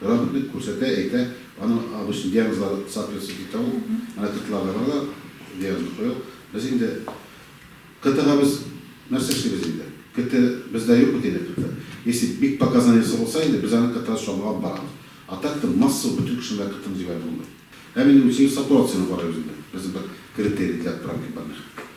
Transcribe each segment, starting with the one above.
График бит күрсәтә, әйтә, аның обычно диагнозлары соответствует итә ул, менә кытыкларда бар да, диагнозны куя ул. Без инде кытыга без нәрсә эшлибез инде? Кыты бездә юк бит инде кыты. Если бик показаниесе булса инде, без аны кытыга чамалап барабыз. А так то массовый бөтен кешенең дә кытын җибәреп булмый. Һәм инде үзебез сатурацияне карыйбыз инде, безнең бер критерий для отправки больных.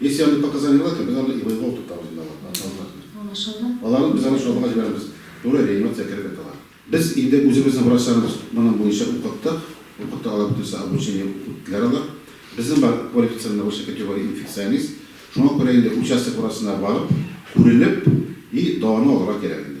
Если они пока заняты, то без аны и воевал тут там земля вот однозначно. Анашалла. Аларны без аны шабага җибәрәбез. Туры реанимация кереп яталар. Без инде үзебезнең врачларыбыз моның буенча укыттык. Укытты алар бөтенесе обучение үттеләр алар. Безнең бар квалифицированный высшей категории инфекционист. Шуңа күрә инде участок врачына барып, күренеп и дәваны алырга кирәк инде.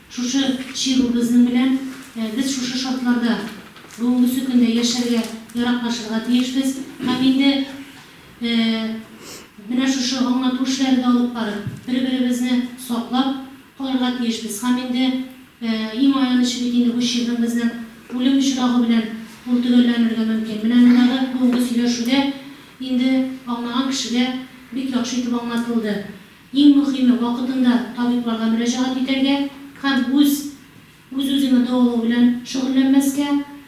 Шушы чирү безнең белән, без шушы шартларда бүгенгесе көндә яшәргә, яраклашырга тиешбез һәм инде менә шушы аңлату эшләре дә алып барып, бер-беребезне саклап калырга тиешбез һәм инде иң аянычы бит инде бу чирнең безнең үлем очрагы белән ул төгәлләнергә мөмкин. Менә мондагы бүгенге сөйләшүдә инде аңлаган кешегә бик яхшы итеп аңлатылды. Иң мөхиме, вакытында табибларга мөрәҗәгать итәргә һәм үз үз-үзеңне дәвалау белән шөгыльләнмәскә,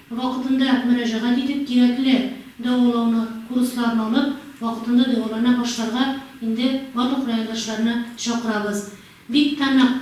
вакытында мөрәҗәгать итеп, кирәкле дәвалауны, курсларны алып, вакытында дәвалана башларга инде барлык райондашларны чакырабыз. Бик тә нык.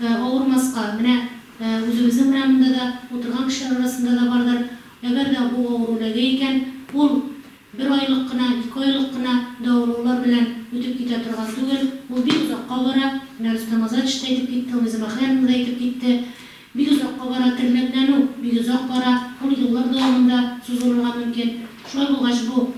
авырмаска, менә үзебезнең урамда да, утырган кешеләр арасында да бардыр, әгәр дә бу авыру эләгә икән, ул бер айлык кына, ике айлык кына дәвалаулар белән үтеп китә торган түгел, ул бик озакка бара, менә Рөстәм Азатович та әйтеп китте, Луиза Махляновна да әйтеп китте, бик озакка бара, тернәкләнү бик озак бара, ул еллар дәвамында сузылырга мөмкин, шулай булгач, бу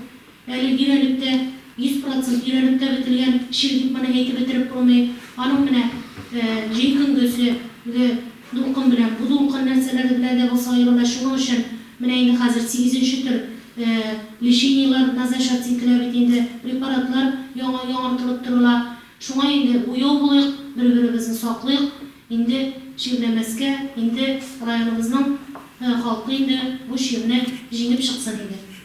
Әле өйрәнеп-тә, йөз процент өйрәнеп-тә бетелгән чир дип моны әйтеп бетереп булмый. Аның менә җәй көндезе ге дулкын белән бу дулкын нәрсәләр белән дә булса аерыла. Шуның өчен менә инде хәзер сигезенче төр лечениеләр назначаться ителә бит инде, препаратлар яңа яңартылып торыла. Шуңа инде уяу булыйк, бер-беребезне саклыйк. Инде чирләмәскә, инде районыбызның халкы инде бу чирне җиңеп чыксын инде.